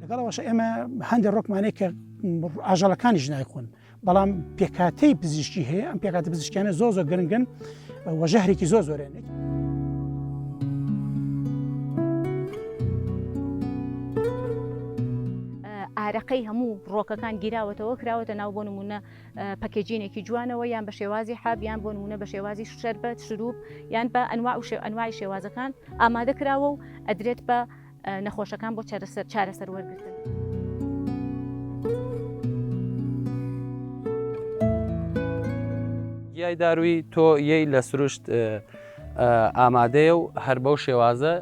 لەگەڵ ئەوەش ئێمە هەندێک ڕۆکمانەی کە ئاژەڵەکانیش نایخۆن بەڵام پێکاتەی پزیشکی هەیە ئەم پێکاتە پزیشکیانە زۆ زۆر گرنگن وەژەهرێکی زۆر زۆرێنێت. ئارەقەی هەموو ڕۆکەکان گیراوەتەوە کراوەتە ناو بۆ نمونە پەکێجینێکی جوانەوە یان بە شێوازی حاب یان بۆ نمونە بە شێوازی شەربەت شروب یان بە ئەنوا و شێ ئەنوای شێوازەکان ئامادە کراوە و ئەدرێت بە نەخۆشەکان بۆ چارەسەر چارەسەر وەرگتن. گیای داروی تۆ یەی لە سروشت ئامادەیە و هەر بەو شێوازە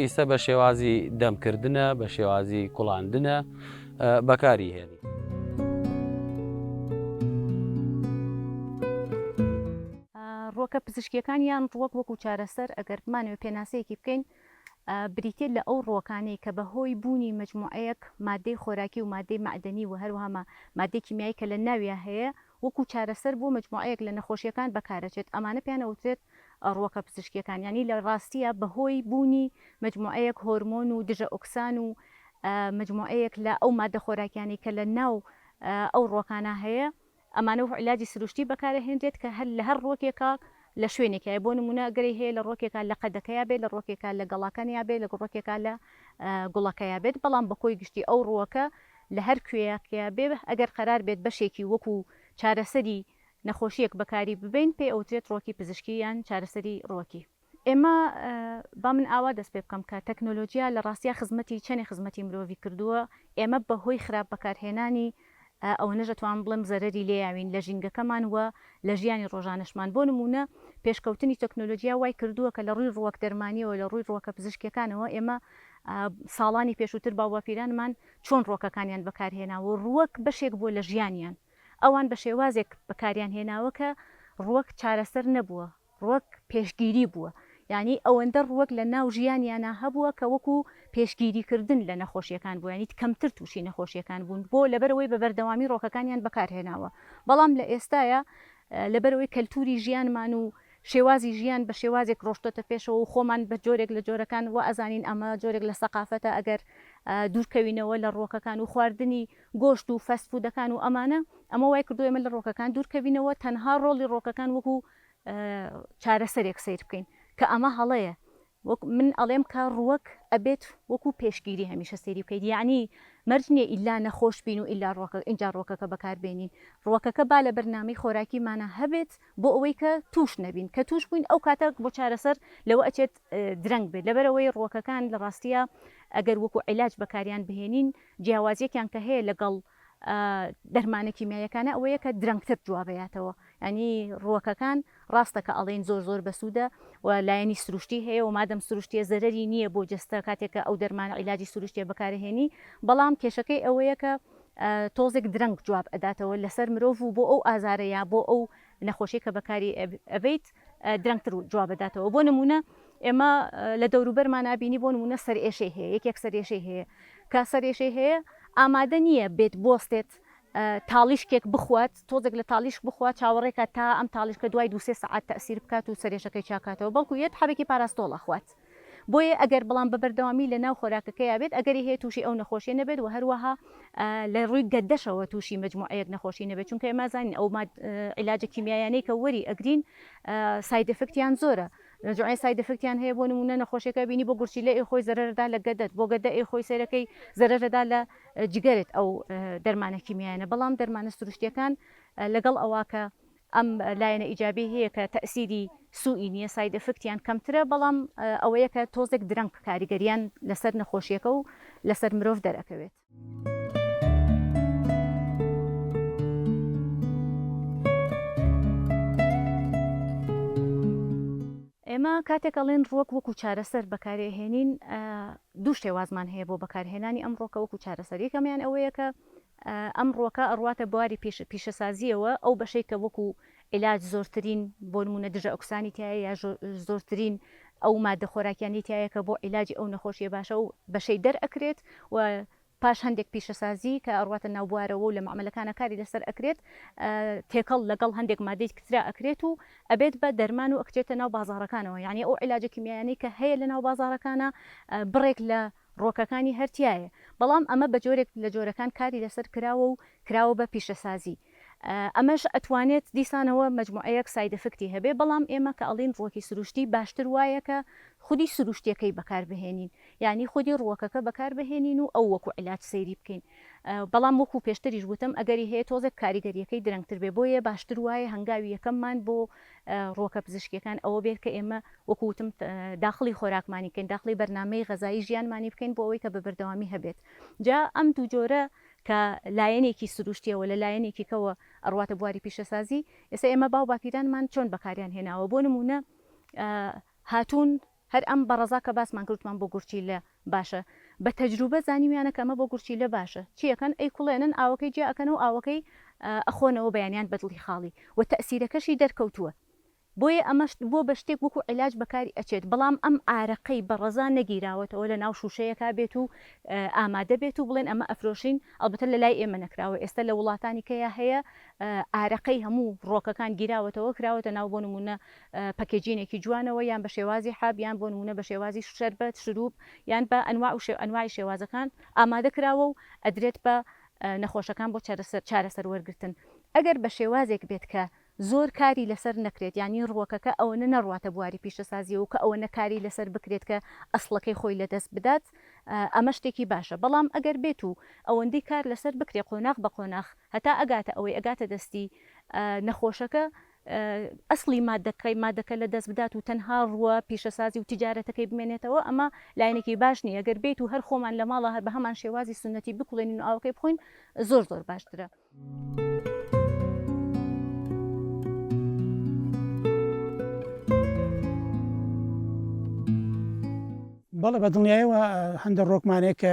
ئیسە بە شێوازی دەمکردە بە شێوازی کوڵاندنە بەکاری هێنی. ڕووەکە پزیشکیەکان یان ڕووەک وەکو چارەسەر ئەگەر بمانەوێت پێناسەیەکی بکەین بریتێت لە ئەو ڕووەکانەی کە بە هۆی بوونی مجموعەیەک مادەی خۆراکی و مادەی معدەنی و هەروەها مادەی کیمیایی کە لە ناویان هەیە وەکو چارەسەر بۆ مەجموعەیەک لە نەخۆشییەکان بەکارەچێت، ئەمانە پێیان ئەوترێت ڕووەکە پزیشکییەکان، یانی لە ڕاستییا بەهۆی بوونی مەجموعەیەک هۆرمۆن و دژە ئۆکسان و مەجموعەیەک لە ئەو ماددە خۆراکییانەی کە لە ناو ئەو ڕووەکانا هەیە، ئەمانە وەکو عیلاجی سروشتی بەکارەهێنرێت کە هەر لە هەر ڕووەکێکا لە شوێنێکایە بۆ نموونە گەرەی هەیە لە ڕۆکێکا لە قەدەکەیا بێت لە ڕۆکێکا لە گەڵاکانیا بێت لە ڕۆکێکا لە گوڵەکەیا بێت بەڵام بە کۆی گشتی ئەو ڕووەکە لە هەر کوێیەکەیا بێ ئەگەر قەرار بێت بەشێکی وەکوو چارەسەری نەخۆشییەک بەکاری ببەین پێی ئەوترێت ڕووەکی پزیشکی یان چارەسەری ڕووەکی. ئێمە با من ئاوا دەست پێ بکەم کە تەکنۆلۆجیا لە ڕاستیا خزمەتی چەنێ خزمەتی مرۆڤی کردووە ئێمە بە هۆی خراپ بەکارهێنانی ئەوەنەش ئەتوانم بڵێم زەرەری لێیاوین لە ژینگەکەمان و لە ژیانی ڕۆژانەشمان، بۆ نموونە پێشکەوتنی تەکنۆلۆجیا وای کردووە کە لە ڕووی ڕووەک دەرمانییەوە لە ڕووی ڕووەکە پزیشکییەکانەوە ئێمە ساڵانی پێشووتر باوباپیرانمان چۆن ڕووەکەکانیان بەکارهێناوە و ڕووەک بەشێک بووە لە ژیانیان ئەوان بە شێوازێک بەکاریان هێناوە کە ڕووەک چارەسەر نەبووە ڕووەک پێشگیری بووە، یانی ئەوەندە ڕووەک لە ناو ژیانیانا هەبووە کە وەکو پێشگیری کردن لە نەخۆشیەکان بووە یانی کەمتر تووشی نەخۆشیەکان بوون بۆ لەبەرئەوەی بە بەردەوامی ڕووەکەکانیان بەکار هێناوە بەڵام لە ئێستایا لەبەرئەوەی کەلتوری ژیانمان و شێوازی ژیان بە شێوازێک ڕۆشتۆتە پێشەوە و خۆمان بە جۆرێک لە جۆرەکان وا ئەزانین ئەمە جۆرێک لە سەقافەتە ئەگەر دوور کەوینەوە لە ڕووەکەکان و خواردنی گۆشت و فەست فودەکان و ئەمانە ئەمە وای کردووە ئێمە لە ڕووەکەکان دوور کەوینەوە تەنها ڕۆڵی ڕووەکەکان وەکو چارەسەرێک سەیر بکەین کە ئەمە هەڵەیە وەک من ئەڵێم کە ڕووەک ئەبێت وەکو پێشگیری هەمیشە سەیری بکەیت یعنی مەرج نییە ئیلا نەخۆش بین و ئیلا ڕوەکە ئینجا ڕوەکەکە بەکار بێنین ڕوەکەکە با لە بەرنامەی خۆراکیمانە هەبێت بۆ ئەوەی کە توش نەبین کە توش بووین ئەو کاتە بۆ چارەسەر لەوە ئەچێت درەنگ بێت لەبەرەوەی ڕوەکەکان لە ڕاستیە ئەگەر وەکو عیلاج بەکاریان بهێنین جیاوازیەکیان کە هەیە لەگەڵ دەرمانە کیمیاییەکانە ئەوەیە کە درەنگتر جوابەیاتەوە ینی ڕوەکەکان ڕاستە کە ئەڵین زۆر زۆر بەسوودە و لایەنی سروشتی هەیە و مادەم سروشتیە زەرری نییە بۆ جستە کاتێکە ئەو دەرمانە عیلاجی سروشتیە بەکارهێنی بەڵام کێشەکەی ئەوەیە کە تۆزێک درەنگ جواب ئەداتەوە لەسەر مرۆڤ و بۆ ئەو ئازارەیە بۆ ئەو نەخۆشی کە بەکاری ئەبیت درەنگتر و جواب بداتەوە بۆ نموونە ئێمە لە دەوروبەرمان نبینی بۆ نموونە سەر ئێشەی هەیە یەکێک سەر ئێشەی هەیە کا سەر ئێشەی هەیە ئامادە نییە بێت بستێت تاڵیشکێک بخوات تۆزێک لە تاڵیش بخوا چاوەڕێکە تا ئەم تاڵیشکە دوای دوسێ سعات تەسیر بکات و سەرێشەکەی چاکاتەوە بەڵکو یەت حەبێکی پاراستۆڵە خوات بۆیە ئەگەر بەڵام بە بەردەوامی لە ناو خۆراکەکەیا بێت ئەگەری هەیە تووشی ئەو نەخۆشیە نەبێت وە هەروەها لە ڕووی گەدەشەوە تووشی مەجموعەیەک نەخۆشی نەبێت چونکە ئێمە ئەزانین ئەو عیلاجە کیمیایانەی کە وەری ئەگرین سایدفکتیان زۆرە نەجوعێ سای دەفکتیان هەیە بۆ نمونە نەخۆشیەکە بینی بۆ گورچی لە ئێ خۆی زەرەردا لە گەدەت بۆ گەدە ئێ خۆی سەرەکەی زەرەرەدا لە جگەرت ئەو دەرمانە کیمیایانە بەڵام دەرمانە سروشتیەکان لەگەڵ ئەوە کە ئەم لایەنە ئیجابیەی هەیە کە تەئسیری سووئی نییە، ساید ئێفکتیان کەمترە، بەڵام ئەوەیە کە تۆزێک درەنگ کاریگەریان لەسەر نەخۆشیەکە و لەسەر مرۆڤ دەرئەکەوێت. ئێمە کاتێک ئەڵێن ڕووەک وەکو چارەسەر بەکاری ئەهێنین دوو شێوازمان هەیە بۆ بەکارهێنانی ئەم ڕووەکە وەکو چارەسەر، یەکەمیان ئەوەیە کە ئەمڕۆکە ئەڕواتە بواری پیشە پیشەسازییەوە ئەو بەشەی کە وەکو عیلاج زۆرترین بۆ نموونە دژە ئۆکسانی تیایە یا ژۆ زۆرترین ئەو ماددە خۆراکیانەی تیایە کە بۆ عیلاجی ئەو نەخۆشیە باشە ئەو بەشەی دەر ئەکرێت و پاش هەندێک پیشەسازی کە ئەڕواتە ناو بوارەوە و لە مەعمەلەکانا کاری لەسەر ئەکرێت تێکەڵ لەگەڵ هەندێک ماددەی کترا ئەکرێت و ئەبێت بە دەرمان و ئەکچێتە ناو بازاڕەکانەوە یانی ئەو عیلاجە کیمیایانەی کە هەیە لە ناو بازاڕەکانا بڕێک لە ڕووەکەکانی هەر تیایە بەڵام ئەمە بە جۆرێک لە جۆرەکان کاری لەسەر کراوە و کراوە بە پیشەسازی ئەمەش ئەتوانێت دیسانەوە مەجموعەیەک سایدئفکتی هەبێ بەڵام ئێمە کە ئەڵێین ڕووەکی سروشتی باشتر وایە کە خودی سروشتیەکەی بەکار بهێنین یانی خودی ڕووەکەکە بەکار بهێنین و ئەو وەکو عیلاج سەیری بکەین بەڵام وەکو پێشتریش وتم ئەگەری هەیە تۆزێک کاریگەریەکەی درەنگتر بێ بۆیە باشتر وایە هەنگاوی یەکەممان بۆ ڕووەکە پزیشکیەکان ئەوە بێت کە ئێمە وەکو وتم داخڵی خۆراکمانی بکەین داخڵی بەرنامەی غەزایی ژیانمانی بکەین بۆ ئەوەی کە بە بەردەوامی هەبێت جا ئەم دوو جۆرە کە لایەنێکی سروشتیەوە لە لایەنێکی کەوە ئەڕواتە بواری پیشەسازی ئێستا ئێمە باو باپیرانمان چۆن بەکاریان هێناوە بۆ نمونە هاتوون هەر ئەم بەڕەزا کە باسمان کرد وتمان بۆ گورچیلە باشە بە تەجروبە زانیویانە کە ئەمە بۆ گورچیلە باشە چی ئەکەن ئەیکوڵێنن ئاوەکەی جیا ئەکەنە و ئاوەکەی ئەخۆنەوە بەیانیان بەدڵی خاڵی و تەئسیرەکەشی دەرکەوتووە بۆیە ئەمەش بۆ بە شتێک وەکو عیلاج بەکاری ئەچێت بەڵام ئەم ئارەقەی بەڕەزا نەگیراوەتەوە لە ناو شوشەیەکا بێت و ئامادە بێت و بڵێن ئەمە ئەفرۆشین ئەڵبەتە لە لای ئێمە نەکراوە ئێستە لە وڵاتانی کەیا هەیە ئارەقەی هەموو ڕۆکەکان گیراوەتەوە کراوەتە ناو بۆ نموونە پەکێجینێکی جوانەوە یان بە شێوازی حەب یان بۆ نموونە بە شێوازی شەربەت، شرووب یان بە ئەنواع و ئەنواعی شێوازەکان ئامادە کراوە و ئەدرێت بە نەخۆشەکان بۆ چارەسەر وەرگرتن ئەگەر بە شێوازێک بێت کە زۆر کاری لەسەر نەکرێت یانی ڕووەکەکە ئەوەنە نەڕواتە بواری پیشەسازییەوە کە ئەوەنە کاری لەسەر بکرێت کە ئەسڵەکەی خۆی لە دەست بدات ئەمە شتێکی باشە بەڵام ئەگەر بێت و ئەوەندەی کار لەسەر بکرێت قۆناغ بە قۆناغ هەتا ئەگاتە ئەوەی ئەگاتە دەستی نەخۆشەکە ئەسڵی ماددەکەی ماددەکە لە دەست بدات و تەنها ڕووە پیشەسازی و تیجارەتەکەی بمێنێتەوە ئەمە لایەنێکی باش نیە گەر بێیت و هەر خۆمان لە ماڵا هەر بە هەمان شێوازی سونەتی بکوڵێنین و ئاوەکەی بخۆین زۆر زۆر باشترە. بەڵێ بە دڵنیایەوە هەندە ڕۆکمانەیە کە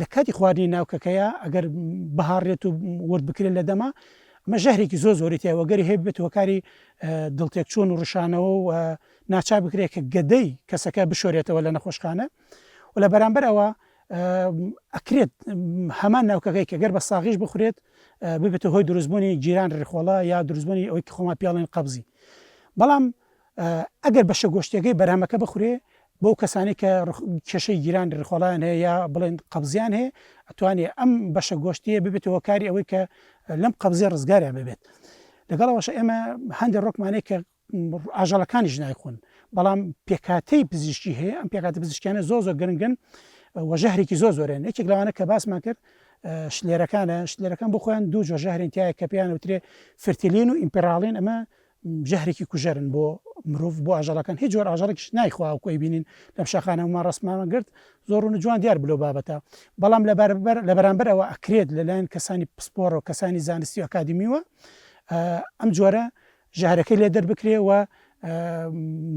لە کاتی خواردنی ناو کەکەیا ئەگەر بهاڕێت و ورد بکرێت لە دەما ئەمە ژەهرێکی زۆ زۆری تیا وەگەری هەیە بێت هۆکاری دڵتێک چۆن و ڕشانەوە و ناچار بکرێت کە گەدەی کەسەکە بشۆرێتەوە لە نەخۆشخانە و لە بەرامبەر ئەوە ئەکرێت هەمان ناوکەکەی کە گەر بە ساغیش بخورێت ببێتە هۆی دروستبوونی جیران ڕخۆڵە یا دروستبوونی ئەوی خۆما پیاڵێن قبزی بەڵام ئەگەر بەشە گۆشتیەکەی بەرهەمەکە بخورێ بەو کەسانی کە کێشەی گیرانی ڕخۆڵیان هەیە یا بڵێن قەبزیان هەیە ئەتوانێت ئەم بەشە گۆشتیە ببێت هۆکاری ئەوەی کە لەم قەبزی ڕزگاریان ببێت لەگەڵەوەش ئێمە هەندێک ڕۆکمانەیە کە ئاژەڵەکانیش نایخۆن بەڵام پێکاتەی پزیشکی هەیە ئەم پێکاتە پزیشکیانە زۆ زۆر گرنگن وەژەهرێکی زۆ زۆرێن یەکێک لەوانە کە باسمان کرد شلێرەکانە شلێرەکان بۆ خۆیان دوو جۆ ژەهرێن تایە کە پێیان وترێ فرتیلین و ئیمپراڵین ئەمە ژەهرێکی کوژەرن بۆ مرۆڤ بۆ ئاژەڵەکان هیچ جۆر ئاژەڵێکیش نایخوا وەکو ئەیبینین لەم شاخانەوەمان ڕەسمانە گرت زۆر ڕوون و جوان دیار بوو لەو بابەتە بەڵام لە بەرامبەر لە بەرامبەر ئەوە ئەکرێت لەلایەن کەسانی پسپۆڕە و کەسانی زانستی و ئەکادیمیوە ئەم جۆرە ژەهرەکەی لێ دەربکرێ و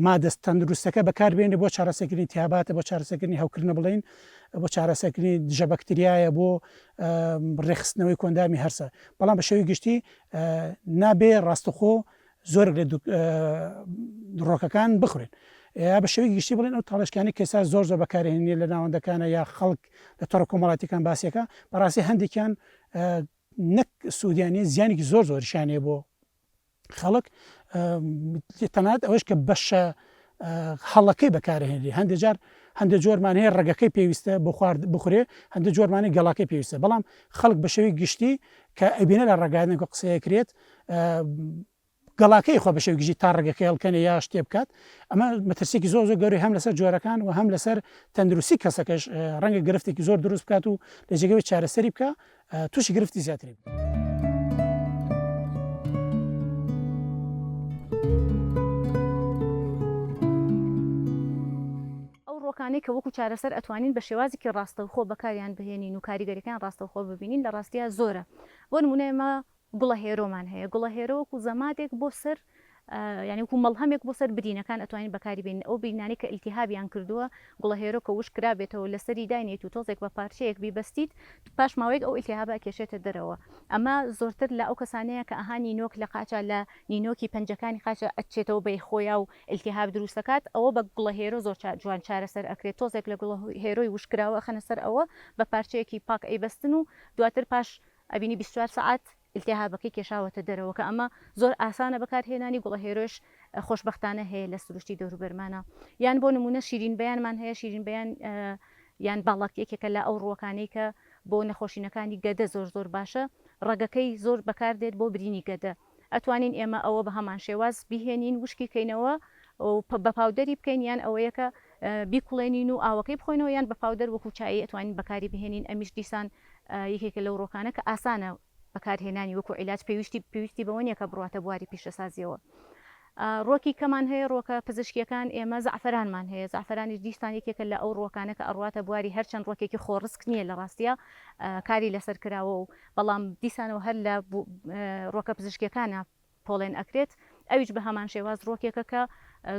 مادەست تەندروستەکە بەکاربێنێ بۆ چارەسەکردنی تیاباتە بۆ چارەسەکردنی هەوکردنە بڵین بۆ چارەسەکردنی دژە بەکتریایە بۆ ڕێخستنەوەی کۆندامی هەرسە بەڵام بە شێوی گشتی نابێ ڕاستەخۆ زۆرێک لە دڕۆکەکان بخورێن یا بە شێوەی گشتی بڵێن ئەو تاڵشکانی کەسا زۆر زۆر بەکارێنێ لە ناوەندەکانە یا خەڵک لە تۆڕە کۆمەڵاتەکان باسیەکە بەڕاستی هەندێکیان نەک سوودیانی زیانێکی زۆر زۆرشانێ بۆ خەڵک تەنات ئەوەش کە بەشە هەڵەکەی بەکارئەهێنرێ هەندێ جار هەندێ جۆرمان هەیە ڕەگەکەی پێویستە بۆ خوارد بخورێ هەندێ جۆرمانی گەڵاکەی پێویستە بەڵام خەڵک بە شێوەی گشتی کە ئەبینە لە ڕێگایەک و قسەیە کرێت گەڵاکەی خۆ بە شێوەی گشتی تا ڕێگەکەی هەڵکەنێ یا شتێ بکات ئەمە مەترسێکی زۆر زۆر گەوری هەم لەسەر جۆرەکان و هەم لەسەر تەندروستی کەسەکەش ڕەنگە گرفتێکی زۆر دروست بکات و لە جێگەوەی چارەسەری بکە تووشی گرفتی زیاتری بوو. ڕۆکانەی کە وەکو چارەسەر ئەتوانین بە شێوازێکی ڕاستەوخۆ بەکاریان بهێنین و کاریگەریەکان ڕاستەوخۆ ببینین لە ڕاستیە زۆرە بۆ نمونە ئێمە گوڵەهێرۆمان هەیە، گوڵەهێرۆ وەکو زەمادێک بۆ سەر یانی وەکو مەڵهەمێک بۆ سەر برینەکان ئەتوانین بەکاری بێنین، ئەو برینانەی کە ئیلتیهابیان کردووە گوڵەهێرۆ کە وشک کرابێتەوە لەسەری داینێیت و تۆزێک بە پارچەیەک بیبەستیت پاش ماوەیەک ئەو ئیلتیهابە ئەکێشێتە دەرەوە ئەمە زۆرتر لە ئەو کەسانەیە کە ئەها نینۆک لە قاچە لە نینۆکی پەنجەکانی قاچە ئەچێتەوە بەی خۆیا و ئیلتیهاب دروست ئەکات ئەوە بە گوڵەهێرۆ زۆر جوان چارەسەر ئەکرێت تۆزێک لە گوڵەهێرۆی وشک کراوە ئەخەنە سەر ئەوە بە پارچەیەکی پاک ئەیبەستن و دواتر پاش ئەبینی بیست چوار سەعات ئیلتیهابەکەی کێشاوەتە دەرەوە کە ئەمە زۆر ئاسانە بەکار هێنانی گوڵە هێرۆش خۆشبەختانە هەیە لە سروشتی دەوروبەرمانا یان بۆ نمونە شیرین بەیانمان هەیە شیرین بەیان یان باڵەک یەکێکە لە ئەو ڕووەکانەی کە بۆ نەخۆشینەکانی گەدە زۆر زۆر باشە ڕەگەکەی زۆر بەکار دێت بۆ برینی گەدە ئەتوانین ئێمە ئەوە بەهەمان شێواز بیهێنین وشکی کەینەوە و بە پاودەری بکەین یان ئەوەیە کە بیکوڵێنین و ئاوەکەی بخۆینەوە یان بە پاودەر وەکو چایی ئەتوانین بەکاری بهێنین ئەمیش دیسان یەکێکە لەو ڕۆکانە کە ئاسانە بەکارهێنانی وەکو عیلاج پێویستی پێویستی بەوە نیە کە بڕواتە بواری پیشەسازیەوە ڕۆکی کەمان هەیە ڕۆکە پزیشکیەکان ئێمە زعفرانمان هەیە زعفرانیش دیسان یەکێکە لە ئەو ڕۆکانە کە ئەڕواتە بواری هەرچەند ڕۆکێکی خۆڕسک نیە لە ڕاستیە کاری لەسەر کراوە و بەڵام دیسانەوە هەر لە ڕۆکە پزیشکیەکانا پۆڵێن ئەکرێت ئەویش بە هەمان شێواز ڕۆکێکە کە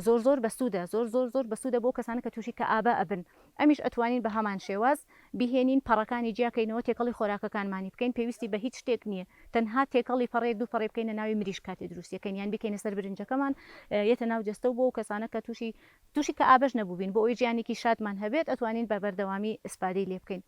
زۆر زۆر بەسوودە زۆر زۆر زۆر بەسوودە بۆ کەسانە کە تووشی کە ئابە ئەبن ئەمیش ئەتوانین بە هەمان شێواز بیهێنین پەڕەکانی جیاکەینەوە تێکەڵی خۆراکەکانمانی بکەین پێویستی بە هیچ شتێک نییە تەنها تێکەڵی پەڕەیەک دوو پەڕەی بکەینە ناوی مریشک کاتێ دروستیەکەین یان بیکەینە سەر برنجەکەمان یەتە ناو جەستە و بۆ کەسانە کە تووشی تووشی کە ئابەش نەبووبین بۆ ئەوی ژیانێکی شادمان هەبێت ئەتوانین بە بەردەوامی ئیسفادەی لێ بکەین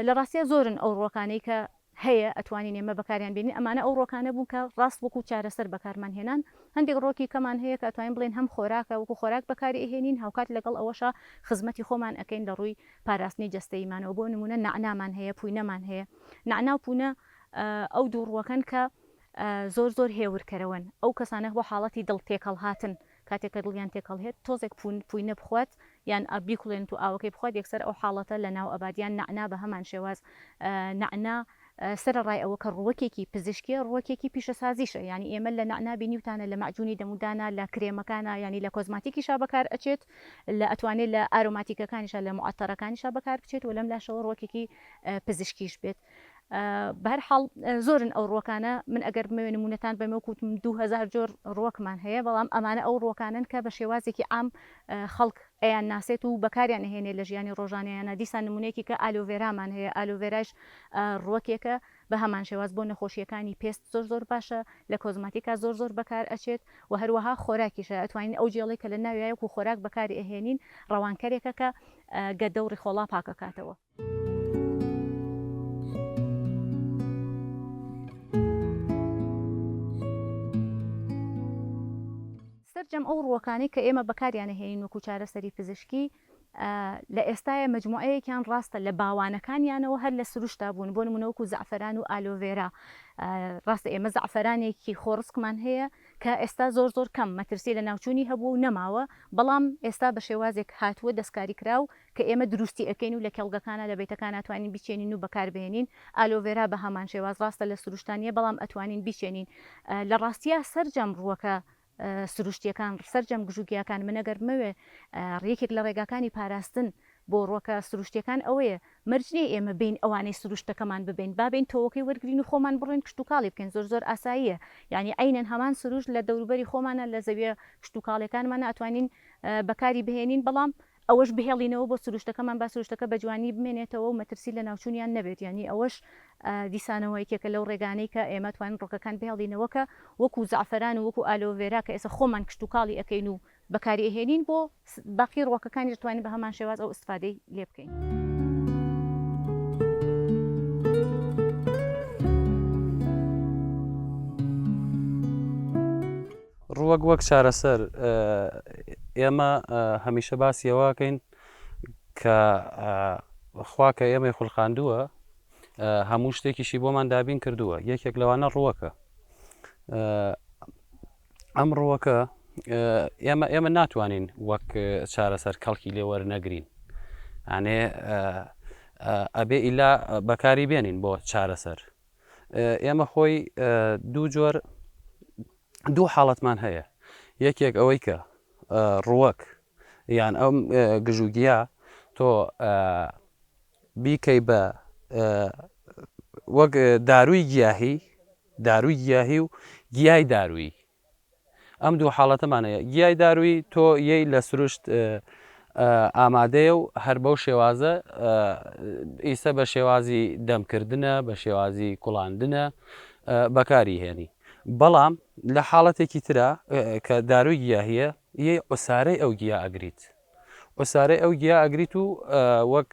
لە ڕاستیا زۆرن ئەو ڕووەکانەی کە هەیە ئەتوانین ئێمە بەکاریان بێنین ئەمانە ئەو ڕووەکانە بوون کە ڕاست وەکوو چارەسەر بەکارمان هێنان هەندێک ڕووەکی کەمان هەیە کە ئەتوانین بڵێن هەم خۆراکە وەکوو خۆراک بەکاری ئەهێنین هاوکات لەگەڵ ئەوەشا خزمەتی خۆمان ئەکەین لە ڕووی پاراستنی جەستەییمانەوە بۆ نموونە نەعنامان هەیە پووینەمان هەیە نەعنا و پوونە ئەو دوو ڕووەکەن کە زۆر زۆر هێورکەرەوەن ئەو کەسانە بۆ حاڵەتی دڵ تێکەڵهاتن کاتێک کە دڵیان تێکهەڵهێت تۆزێک پوون پوینە بخوات یان ئاب بیکوڵێنت و ئاوەکەی بخوات یەکسەر ئەو حاڵەتە لە ناو ئەبات یان نەعنا بە هەمان شێواز نەعنا سەرەڕای ئەوە کە ڕووەکێکی پزیشکیە ڕووەکێکی پیشەسازیشە یانی ئێمە لە نەعنا بینیوتانە لە مەعجونی دەمودانا لە کرێمەکانا یانی لە کۆزماتیکیشا بەکار ئەچێت لە ئەتوانێت لە ئارۆماتیکەکانیشا لە معەتەرەکانیشا بەکار بچێت و لەم لاشەوە ڕووەکێکی پزیشکیش بێت. بەهەر حاڵ زۆرن ئەو ڕووەکانە من ئەگەر بمەوێ نمونەتان بەمە کووتم دوهزار جۆر ڕووەکمان هەیە بەڵام ئەمانە ئەو ڕووەکانن کە بە شێوازێکی عام خەڵک ئەیان ناسێت و بەکاریان نهێنێ لە ژیانی ڕۆژانەیانە دیسان نمونەیەکی کە ئالۆڤێرامان هەیە ئالۆڤێرایش ڕووەکێکە بە هەمان شێواز بۆ نەخۆشیەکانی پێست زۆر زۆر باشە لە کۆزماتیکا زۆر زۆر بەکار ئەچێت و هەروەها خۆراکیشە ئەتوانین ئەو جێڵی کە لە ناویایەک و خۆراک بەکاری ئەهێنین ڕەوانکەرێکە کە گەدە و ڕیخۆڵا پاکەکاتەوە. سەرجەم ئەو ڕووەکانەی کە ئێمە بەکاریان ئەهێنین وەکوو چارەسەری پزیشکی لە ئێستایا مەجموعەیەکیان ڕاستە لە باوانەکانیانەوە هەر لە سروشتا بوون بۆ نموونە وەکوو زەعفەران و ئالۆڤێرا ڕاستە ئێمە زەعفەرانێکی خۆڕسکمان هەیە کە ئێستا زۆر زۆر کەم مەترسی لەناوچوونی هەبووە و نەماوە بەڵام ئێستا بە شێوازێک هاتووە دەستکاریکراو کە ئێمە دروستی ئەکەین و لە کێڵگەکانا لە بەیتەکانا توانین بیچێنین و بەکار بهێنین ئالۆڤێرا بە هەمان شێواز ڕاستە لە سروشتا نیە بەڵام ئەتوانین بیچێنین لە ڕاستیا سەرجەم ڕووەکە سروشتیەکان سەرجەم گژو گیاکان من ئەگەر بمەوێ ڕیەکێک لە ڕێگاکانی پاراستن بۆ ڕوەکە سروشتیەکان ئەوەیە مەرج نیە ئێمە بێین ئەوانەی سروشتەکەمان ببێن با بێین تۆوەکەی وەرگرین و خۆمان بڕۆین کشتوکاڵی بکەین زۆر زۆر ئاساییە یانی عەینەن هەمان سروشت لە دەوروبەری خۆمانا لە زەویە کشتوکاڵیەکانمانا ئەتوانین بەکاری بهێنین بەڵام ئەوەش بهێڵینەوە بۆ سروشتەکەمان با سروشتەکە بەجوانی بمێنێتەوە و مەترسی لەناوچوونیان نەبێت یانی ئەوەش دیسانەوە یەکێکە لەو ڕێگانەی کە ئێمە توانین ڕۆکەکان بهێڵینەوە کە وەکو زەعفەران و وەکو ئالۆڤێرا کە ئێستا خۆمان کشتوکاڵی ئەکەین و بەکاری ئەهێنین بۆ باقی ڕۆکەکانیش بتوانین بەهەمان شێواز ئەو ئیستفادەی لێ بکەین. ڕووەک وەک چارەسەر، ئێمە هەمیشە باسی ئەوەکەین کە خوا کە ئێمەی خولقاندووە هەموو شتێکیشی بۆمان دابین کردووە یەکێک لەوانە ڕووەکە ئەم ڕووەکە ئێمە ئێمە ناتوانین وەک چارەسەر کەڵکی لێ وەرنەگرین ئەێ ئەبێ ئیلا بەکاری بێنین بۆ چارەسەر ئێمە خۆی دوو جۆر دوو حاڵەتمان هەیە یەکێک ئەوەی کە ڕوەک یان ئەم گژوگیا تۆ بیکەی بە وەک داروی گیاهی داروی گیاهی و گیای دارویی ئەم دوو حاڵەتەمان هەیە. گیای دارووی تۆ یەی لە سروشت ئامادەیە و هەر بەو شێوازە ئیسە بە شێوازی دەم کردنە، بە شێوازی کوڵاندنە بەکاری هێنی. بەڵام لە حاڵەتێکی ترا کە دارووی گیاهیە یەی عوسارەی ئەو گیا ئەگریت. عوسارەی ئەو گیا ئەگریت و وەک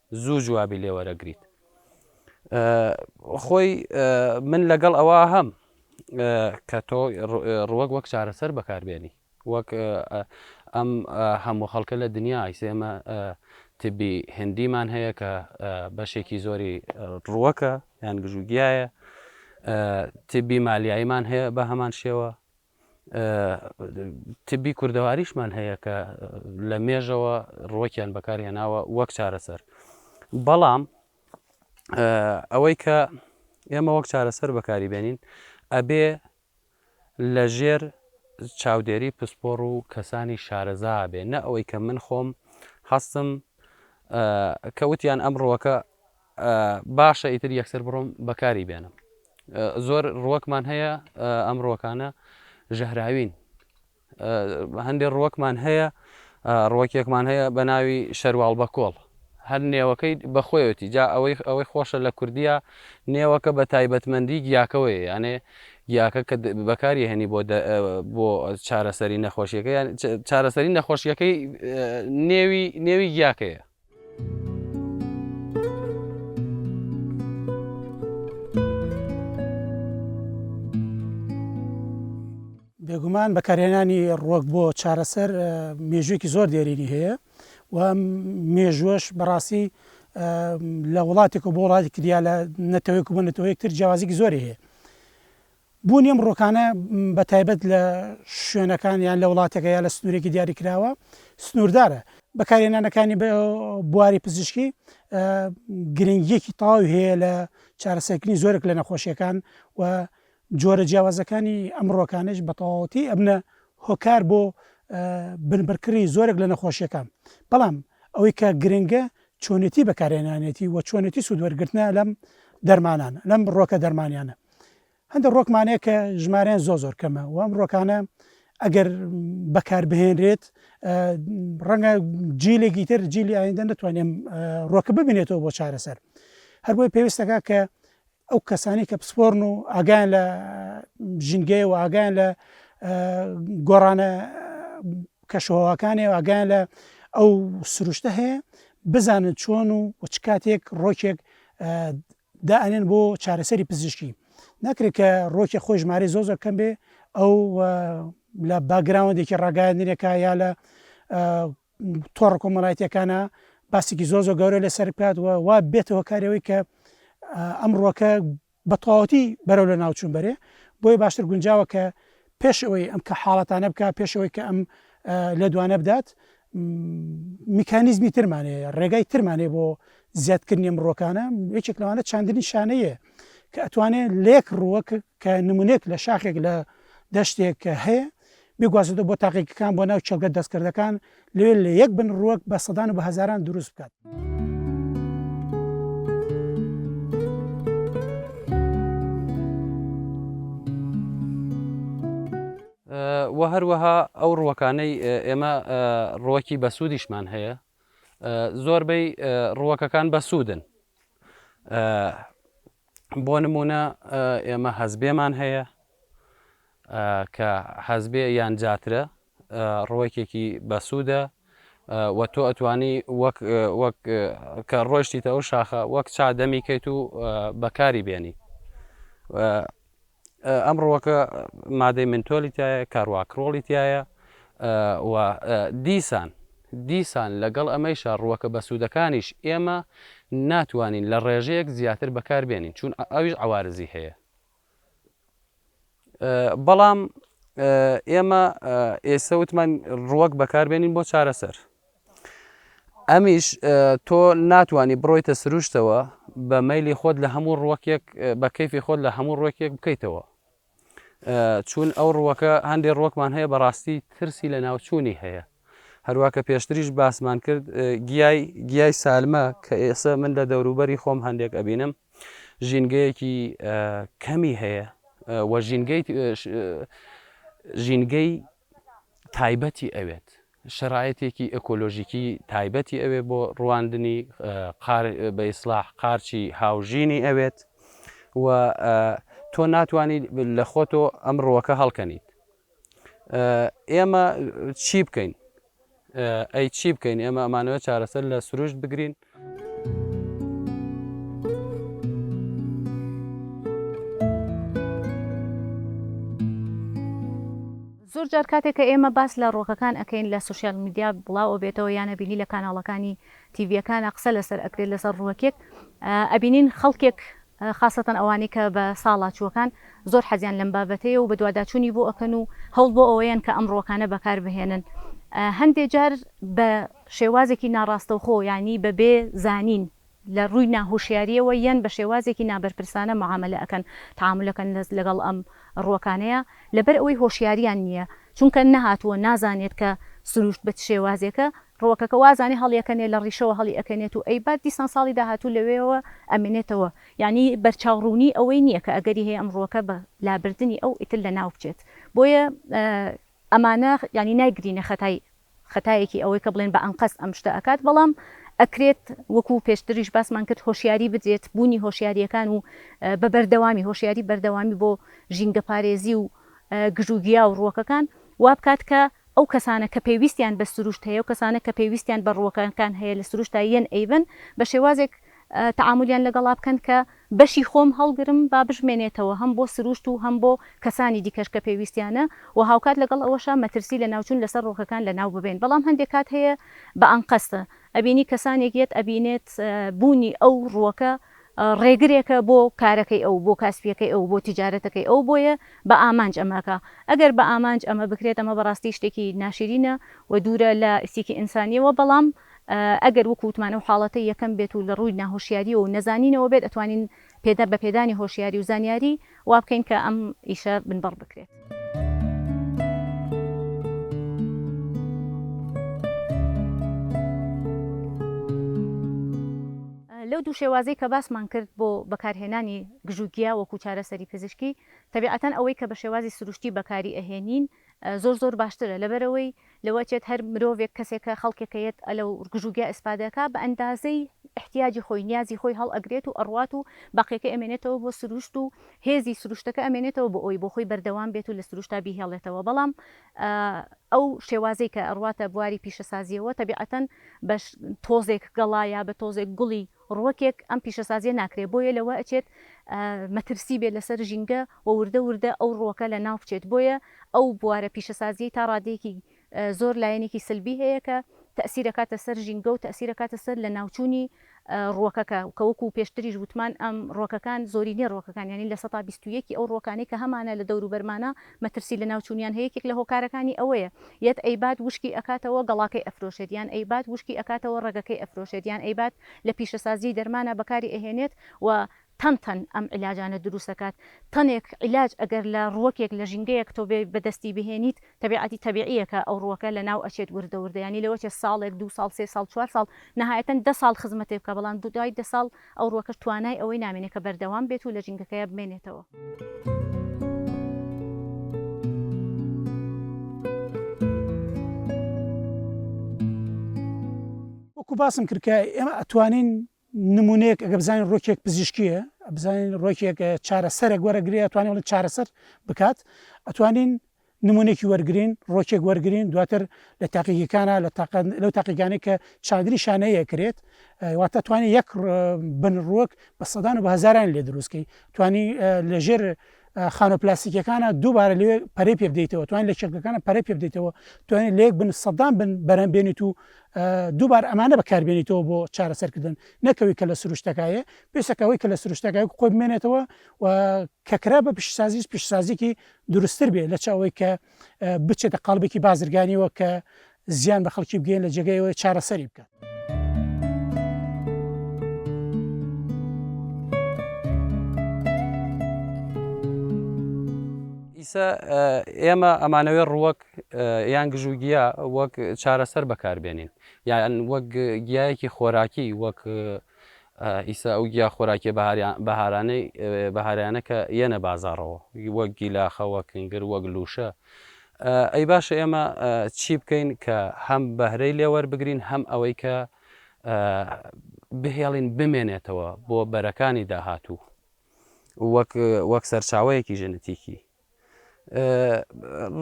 زوو جوابی لێ وەرەگریت خۆی من لەگەڵ ئەوە هەم کە تۆ ڕوەک وەک چارەسەر بەکاربێنی وەک ئەم هەموو خەڵکە لە دنیا ئایسێمە تبی هندیمان هەیە کە بەشێکی زۆری ڕوەکە یان گژوگیایە تبی مالیاییمان هەیە بە هەمان شێوە تبی کوردەواریشمان هەیە کە لە مێژەوە ڕۆکیان بەکارهێناوە وەک چارەسەر بەڵام ئەوەی کە ئێمە وەک چارەسەر بەکاری بێنین ئەبێ لە ژێر چاودێری پسپۆڕ و کەسانی شارەزا بێ نە ئەوەی کە من خۆم هەستم کەوتیان ئەم ڕوەکە باشە ئیتر یەکسەر بڕۆم بەکاری بێنم زۆر ڕوەکمان هەیە ئەم ڕوەکانە ژەهراوین هەندێک ڕوەکمان هەیە ڕوەکێکمان هەیە بە ناوی شەرواڵ بە کۆڵ هەر نێوەکەی بەخۆیەتی جا ئەوەی ئەوەی خۆشە لە کوردیا نێوەکە بە تایبەتمەندی گیاکەوەی یانێ گیاکە کە بەکاری هێنی بۆ بۆ چارەسەری نەخۆشیەکە چارەسەری نەخۆشیەکەی نێوی نێوی گیاکەیە بێگومان بەکارهێنانی ڕۆک بۆ چارەسەر مێژوویکی زۆر دێرینی هەیە و مێژوەش بەڕاستی لە وڵاتێک و بۆ وڵاتێکی دیا لە نەتەوەیەک و بە نەتەوەیەکتر جیازیکی زۆری هەیە بوونی ئەم ڕووەکانە بە تایبەت لە شوێنەکان یان لە وڵاتێکە یا لە سنوورێکی دیاریکراوە سنووردارە، بەکارهێنانەکانی بە بواری پزیشکی گرنگیەکی تەواوی هەیە لە چارەسەرکردنی زۆرێک لە نەخۆشیەکان و جۆرە جیاوازەکانی ئەم ڕۆکانش بە تەواوەتی ئەبنە هۆکار بۆ بنبڕکردنی زۆرێک لە نەخۆشیەکان بەڵام ئەوەی کە گرنگە چۆنێتی بەکارهێنانێتی و چۆنێتی سوودوەرگرتنە لەم دەرمانانە لەم ڕۆکە دەرمانیانە هەندێک ڕۆکمان هەیە کە ژمارەیان زۆر زۆر کەمە و ئەم ڕۆکانە ئەگەر بەکار بهێنرێت ڕەنگە جیلێکی تر جیلی ئایندە نتوانێم ڕۆکە ببینێتەوە بۆ چارەسەر هەربۆی پێویستەکە کە ئەو کەسانی کە پسپۆرن و ئاگان لە ژینگەیە و ئاگان لە گۆڕانە کەشەوەکانی و ئاگان لە ئەو سروشتە هەیە بزانن چۆن و چ کاتێک ڕۆکێک دا ئەنێن بۆ چارەسەری پزیشکی ناکرێت کە ڕۆکێ خۆی ژمارەی زۆر زۆر کەم بێ ئەو لە باگراوەندێکی ڕاگەاندنێکە یا لە تۆڕ کۆمەڵایەتەکانە باسێکی زۆر زۆر گەورە لەسەر بکات و وا بێتەوە کارەوەی کە ئەم ڕۆکە بە تەواوەتی بەرەو لە ناوچون بەرێ بۆی باشتر گونجاوە کە پێش ئەوەی ئەم کە حاڵەتانە بکات، پێش ئەوەی کە ئەم لێدوانە بدات، میکانیزمی ترمان هەیە، ڕێگای ترمان هەیە بۆ زیادکردنی ئەم ڕووەکانە، یەکێک لەوانە چاندنی شانەییە، کە ئەتوانێ لە یەک ڕووەک کە نموونەیەک لە شاخێک لە دەشتێک کە هەیە، بیگوازێتەوە بۆ تاقیگەکان، بۆ ناو چێڵگە دەستکردەکان، لێ لە یەک بن ڕووەک بە سەدان و بە هەزاران دروست بکات. و هەروەها ئەو ڕوەکانەی ئێمە ڕوەکی بەسوودیشمان هەیە زۆربەی ڕوەکەکان بەسوودن بۆ نمونە ئێمە هەزبێمان هەیە کە حەزبێ یان جاترە ڕوەکێکی بەسوودە و تۆ ئەتوانی وەک وەک کە ڕۆشتیتە ئەو شاخە وەک چا دەمی کەیت و بەکاری بێنی ئەم ڕوەکە مادەی منتۆلی تایە کارواکرۆڵی تایە و دیسان دیسان لەگەڵ ئەمەیشە ڕوەکە بەسوودەکانیش ئێمە ناتوانین لە ڕێژەیەک زیاتر بەکاربێنین چون ئەویش عوارزی هەیە بەڵام ئێمە ئێسە وتمان ڕوەک بەکاربێنین بۆ چارەسەر ئەمیش تۆ ناتانی بڕۆیتە سروشتەوە بە مەلی خۆت لە هەموو ڕوەکێک بە کەفی خۆت لە هەموو ڕوەکێک بکەیتەوە چون ئەو ڕوەکە هەندێک ڕۆکمان هەیە بەڕاستی ترسی لە ناوچوونی هەیە هەروواکە پێشتریش باسمان کرد گیای گیای سالمە کە ئێستا من لە دەوروبەری خۆم هەندێک ئەبینم ژینگەیەکی کەمی هەیە و ژینگەی تایبەتی ئەوێت، شەرایەتێکی ئەکۆلۆژیکی تایبەتی ئەوێ بۆ ڕواندنی بە ئیسلاح قارچی هاوژینی ئەوێت و تۆ ناتوانانی لە خۆتۆ ئەم ڕووەکە هەڵکەنیت. ئێمە چی بکەین ئەی چی بکەین ئێمە ئەمانەوە چارەسەر لە سروشت بگرین. زۆر جار کاتێک کە ئێمە باس لە ڕۆکەکان ئەەکەین لە سوسیال میدیا بڵاو ئەبێتەوە یانە بینی لە کاناڵەکانی تیڤەکانە قسە لەسەر ئەکرێت لەسەر ڕوەکێک ئەبینین خەڵکێک خاسەتەن ئەوانەی کە بە ساڵاچووەکان زۆر حەزیان لەم بابەتەیە و بەدواداچوونی بۆ ئەکەن و هەوڵ بۆ ئەوەیەن کە ئەم ڕووەکانە بەکار بهێنن هەندێ جار بە شێوازێکی ناڕاستەوخۆ یانی بە بێ زانین لە ڕووی ناهوشیاریەوە یەن بە شێوازێکی نابەرپرسانە معامەلە ئەکەن تعامل ئەکەن لەگەڵ ئەم ڕووەکانەیا لەبەر ئەوەی هۆشیاریان نیە چونکە نەهاتووە نازانێت کە سروشت بە چ شێوازێکە ڕووەکەکە وازانێ هەڵیەکەنێ لە ڕیشەوە هەڵی ئەکەنێت و ئەی بات دیسان ساڵی داهاتوو لەوێوە ئەمێنێتەوە یانی بەرچاو ڕوونی ئەوەی نیە کە ئەگەری هەیە ئەم ڕووەکە بە لابردنی ئەو ئیتر لە ناو بچێت بۆیە ئەمانە یانی نایگرینە خەتای خەتایەکی ئەوەی کە بڵێن بە ئەنقەست ئەم شتە ئەکات بەڵام ئەکرێت وەکوو پێشتریش باسمان کرد هۆشیاری بدرێت بوونی هۆشیاریەکان و بە بەردەوامی هۆشیاری بەردەوامی بۆ ژینگەپارێزی و گژوگیا و ڕووەکەکان وابکات کە ئەو کەسانە کە پێویستیان بە سروشت هەیە و کەسانە کە پێویستیان بە ڕووەکەکان هەیە لە سروشتا یەن ئەیبەن بە شێوازێک تەعامولیان لەگەڵا بکەن کە بەشی خۆم هەڵگرم با بشمێنێتەوە هەم بۆ سروشت و هەم بۆ کەسانی دیکەش کە پێویستیانە و هاوکات لەگەڵ ئەوەشا مەترسی لەناوچوون لەسەر ڕووەکەکان لەناو ببەین بەڵام هەندێک کات هەیە بە ئەنقەست ئەبینی کەسانێک یەت ئەبینێت بوونی ئەو ڕووەکە ڕێگرێکە بۆ کارەکەی ئەو، بۆ کاسپییەکەی ئەو، بۆ تیجارەتەکەی ئەو، بۆیە بە ئامانج ئەمەکا. ئەگەر بە ئامانج ئەمە بکرێت، ئەمە بەڕاستی شتێکی ناشیرینە و دوورە لە ئیسیکی ئینسانییەوە، بەڵام ئەگەر وەکو وتمان ئەو حاڵەتەی یەکەم بێت و لە ڕووی ناهۆشیارییەوە و نەزانینەوە بێت، ئەتوانین پێدا بە پێدانی هۆشیاری و زانیاری، وا بکەین کە ئەم ئیشە بنبڕ بکرێت. لەو دوو شێوازەی کە باسمان کرد بۆ بەکارهێنانی گژوگیا وەکوو چارەسەری پزیشکی، تەبیعەتەن ئەوەی کە بە شێوازی سروشتی بەکاری ئەهێنین، زۆر زۆر باشترە لەبەرئەوەی لەوە ئەچێت هەر مرۆڤێک کەسێکە خەڵکێکە یەت ئەلەو گژوگیا ئیسفادە کا بە ئەندازەی ئیحتیاجی خۆی نیازی خۆی هەڵ ئەگرێت و ئەڕوات و بەقیەکەی ئەمێنێتەوە بۆ سروشت و هێزی سروشتەکە ئەمێنێتەوە بۆ ئەوەی بۆخۆی بەردەوام بێت و لە سروشتا بیهێڵێتەوە بەڵام ئەو شێوازەی کە ئەڕواتە بواری پیشەسازیەوە تەبیعەتەن بە تۆزێک گەڵا یا بە تۆزێک گوڵی ڕووەکێک ئەم پیشەسازیە ناکرێت بۆیە لەوە ئەچێت مەترسی بێت لەسەر ژینگە و وردە وردە ئەو ڕووەکە لە ناو بچێت بۆیە ئەو بوارە پیشەسازیەی تا ڕادەیەکی زۆر لایەنێکی سلبی هەیە کە تەئسیر ئەکاتە سەر ژینگە و تەئسیر ئەکاتە سەر لە ناوچوونی ڕووەکەکە کە وەکو پێشتریش ووتمان ئەم ڕووەکەکان زۆرینەی ڕووەکەکان یانی لە سەتا بیست و یەک ی ئەو ڕووەکانەی کە هەمانە لە دەوروبەرمانە مەترسی لەناوچونیان هەیە یەکێک لەهۆکارەکانی ئەوەیە یەت ئەیبات وشکی ئەکاتەوە گەڵاکەی ئەفرۆشێت یان ئەیبات وشکی ئەکاتەوە ڕەگەکەی ئەفرۆشێت یان ئەیبات لەپیشەسازیی دەرمانا بەکاری ئەهێنێت و تەن تەن ئەم عیلاجانە دروست ئەکات تەنێک عیلاج ئەگەر لە ڕوەکێک لە ژینگەیەک تۆ بێی بەدەستی بهێنیت تەبیعەتی تەبیعیە کە ئەو ڕوەکە لەناو ئەچێت وردە وردە یانی لەوەچێ ساڵێک دوو ساڵ سێ ساڵ چوار ساڵ نەهایەتەن دە ساڵ خزمەتێ بکا بەڵام دوای دە ساڵ ئەو ڕوەکەش توانای ئەوەی نامێنێ کە بەردەوام بێت و لە ژینگەکەیا بمێنێتەوە. وەکو باسم کرد کە ئێمە ئەتوانین نمونەیەک ئەگە بزانین ڕۆکێک پزیشکیە بزانین ڕۆکێک چارەسەرێک وەرەگرێ ئەتوانین چارەسەر بکات ئەتوانین نمونەێکی وەرگرین، ڕۆکێک وەرگرین دواتر لە تاقیگەکانا لە تاقە لەو تاقیگانەی کە چادری شانەیە کرێت واتە توانێت یەک بن ڕوەک بە سەدان و بە هزاران لێ دروستکەی توانی لەژێر خانە پلاسیکەکانە دووبارە لێ پەرەی پێ بدەیتەوە توان لە چێکەکانە پەرە پێ بدەیتەوە توانێت لێک بن سەدان بن بەرەم بێنیت و دووبار ئەمانە بەکاربێنیتەوە بۆ چارەسەرکردن نەکەوی کە لە سروشتەکایە پێسەکەەوەی کە لە سروشتەکە خۆی بمێنێتەوە و کەکرا بە پیشسازیش پیشسازیکی دروستر بێ لەچ ئەوەی کە بچێتە قاڵبێکی بازرگانیەوە کە زیان بە خەڵکی بگەین لە جێگەیەوە چارەسەری بکات. ئیسە ئێمە ئەمانەوێ ڕووەک یان گژوگیە وەک چارەسەر بەکاربێنین یان وەک گیایەکی خۆراکی وەک ئیستا ئەو گیا خۆراکیە بەهاریانەی بەهاریانە کە یەنە بازاڕەوە وەک گیلاخە وەک کنگر وەک لوشە ئەی باشە ئێمە چی بکەین کە هەم بەهرەی لێوەربگرین هەم ئەوەی کە بهێڵین بمێنێتەوە بۆ بەرەکانی داهاتوو وەک وەک سەرچاوەیەکی ژنتیکی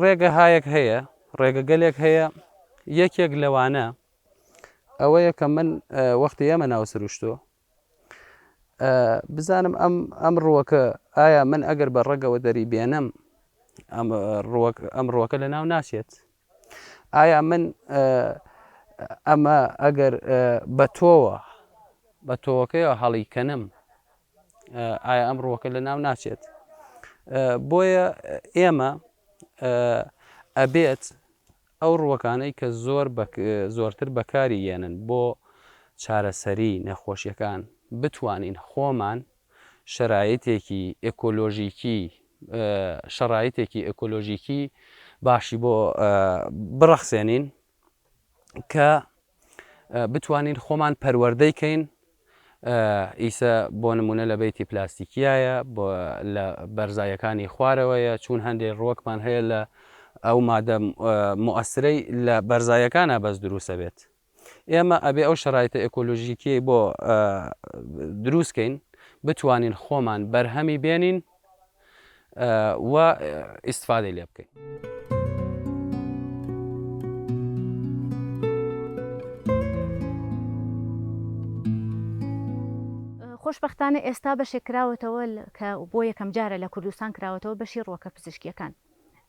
ڕێگە هایەک هەیە ڕێگەگەلێک هەیە یەکێک لەوانە ئەوەیە کە من وەختی ئێمە ناو سروشتۆ بزانم ئەم ئەم ڕووەکە ئایا من ئەگەر بە ڕەگەوە دەری بێنم ئەم ڕووەکە لە ناو ناچێت ئایا من ئەمە ئەگەر بە تۆوە بە تۆوەکەیەوە هەڵی کەنم ئایا ئەم ڕووەکە لە ناو ناچێت بۆیە ئێمە ئەبێت ئەو ڕووەکانەی کە زۆر بە زۆرتر بەکاری یەنن بۆ چارەسەری نەخۆشیەکان بتوانین خۆمان شەرایتێکی ئێکۆلۆژیکی شەڕایتێکی ئێکۆلۆژیکی باشی بۆ بڕەخسێنین کە بتوانین خۆمان پەروەردەی کەین ئیسە بۆ نموونە لە بەیتی پلاستیکیایە، بۆ لە بەرزایەکانی خوارەوەیە، چوون هەندێ ڕووەکمان هەیە لە ئەو مادە موئەسرەی لە بەرزایەکانا بەس درووس ئەبێت. ئێمە ئەبێ ئەو شەرایتە ئێکۆلۆژیکیەی بۆ درووس کەین بتوانین خۆمان بەرهەمی بێنین، و ئیستفادەی لێ بکەین. خۆشبەختانە ئێستا بەشێک کراوەتەوە کە بۆ یەکەم جارە لە کوردستان کراوەتەوە بەشی ڕووەکە پزیشکییەکان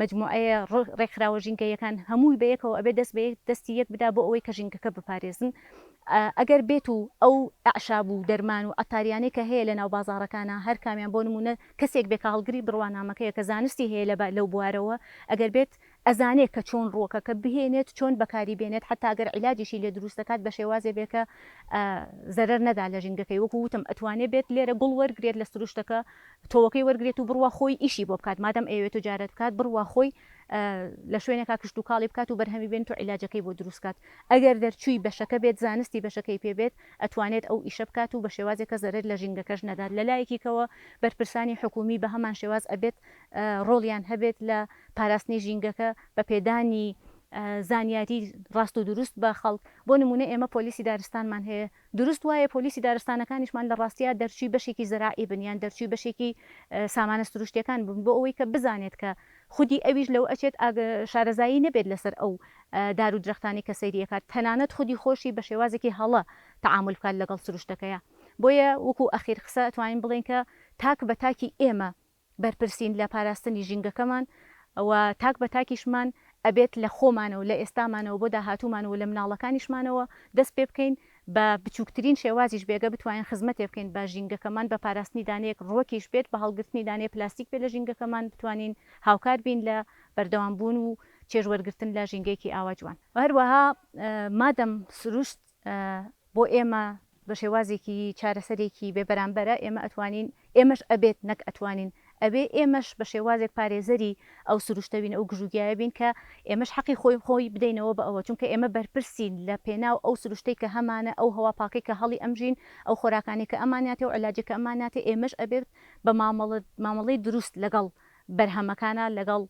مەجموعەیە ڕێکخراوە ژینگەییەکان هەمووی بەیەکەوە ئەبێ دەست بەیەک دەستی یەک بدا بۆ ئەوەی کە ژینگەکە بپارێزن ئەگەر بێت و ئەو ئەعشاب و دەرمان و عەتاریانەی کە هەیە لەناو بازاڕەکانە هەر کامیان بۆ نموونە کەسێک بێ کە هەڵگری بڕوانامەکەیە کە زانستی هەیە لە لەو بوارەوە ئەگەر بێت ئەزانێ کە چۆن ڕووەکەکە بهێنێت چۆن بەکاری بێنێت حەتا ئەگەر عیلاجیشی لێ دروست دەکات بە شێوازێ بێ کە زەرەر نەدا لە ژینگەکەی وەکوو وتم ئەتوانێ بێت لێرە گوڵ وەرگرێت لە سروشتەکە تۆوەکەی وەرگرێت و بڕوا خۆی ئیشی بۆ بکات مادام ئەیەوێت تجارەت بکات بڕوا خۆی لە شوێنێکا کشتوکاڵی بکات و بەرهەمی بێنت و عیلاجەکەی بۆ دروست کات ئەگەر دەرچووی بەشەکە بێت زانستی بەشەکەی پێ بێت ئەتوانێت ئەو ئیشە بکات و بە شێوازێک کە زەرەر لە ژینگەکەش نەدات لە لایەکی کەوە بەرپرسانی حکوومی بە هەمان شێواز ئەبێت ڕۆڵیان هەبێت لە پاراستنی ژینگەکە بە پێدانی زانیاری ڕاست و دروست بە خەڵک بۆ نموونە ئێمە پۆلیسی دارستانمان هەیە دروست وایە پۆلیسی دارستانەکانیشمان لە ڕاستیا دەرچووی بەشێکی زەراعی بن یان دەرچووی بەشێکی سامانە سروشتیەکان بن بۆ ئەوەی کە بزانێت کە خودی ئەویش لەوە ئەچێت شارەزایی نەبێت لەسەر ئەو دار و درەختانەی کە سەیری ئەکات تەنانەت خودی خۆشی بە شێوازێکی هەڵە تەعامول بکات لەگەڵ سروشتەکەیا بۆیە وەکو ئەخیر قسە ئەتوانین بڵێین کە تاک بە تاکی ئێمە بەرپرسین لە پاراستنی ژینگەکەمان و تاک بە تاکیشمان ئەبێت لە خۆمانەوە لە ئێستامانەوە بۆ داهاتوومان و لە مناڵەکانیشمانەوە دەست پێ بکەین بە بچووکترین شێوازیش بێ گە بتوانین خزمەتێ بکەین بە ژینگەکەمان بە پاراستنی دانەیەک ڕوەکیش بێت بە هەڵگرتنی دانەیە پلاستیک بێت لە ژینگەکەمان بتوانین هاوکار بین لە بەردەوام بوون و چێژ وەرگرتن لە ژینگەیەکی ئاوا جوان. هەروەها مادەم سروشت بۆ ئێمە بە شێوازێکی چارەسەرێکی بێ بەرامبەرە، ئێمە ئەتوانین، ئێمەش ئەبێت نەک ئەتوانین، ئەبێ ئێمەش بە شێوازێک پارێزەری ئەو سروشتە بین، ئەو گژوگیایە بین کە ئێمەش حەقی خۆی خۆی بدەینەوە بە ئەوە، چونکە ئێمە بەرپرسین لە پێناو ئەو سروشتەی کە هەمانە، ئەو هەوا پاکەی کە هەڵی ئەمژین، ئەو خۆراکانەی کە ئەماناتێ و علاجەی کە ئەماناتێ، ئێمەش ئەبێت بە مامەڵە مامەڵەی دروست لەگەڵ بەرهەمەکانا، لەگەڵ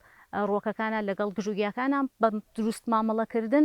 ڕووەکەکانا، لەگەڵ گژوگیاکانا بە دروست مامەڵەکردن،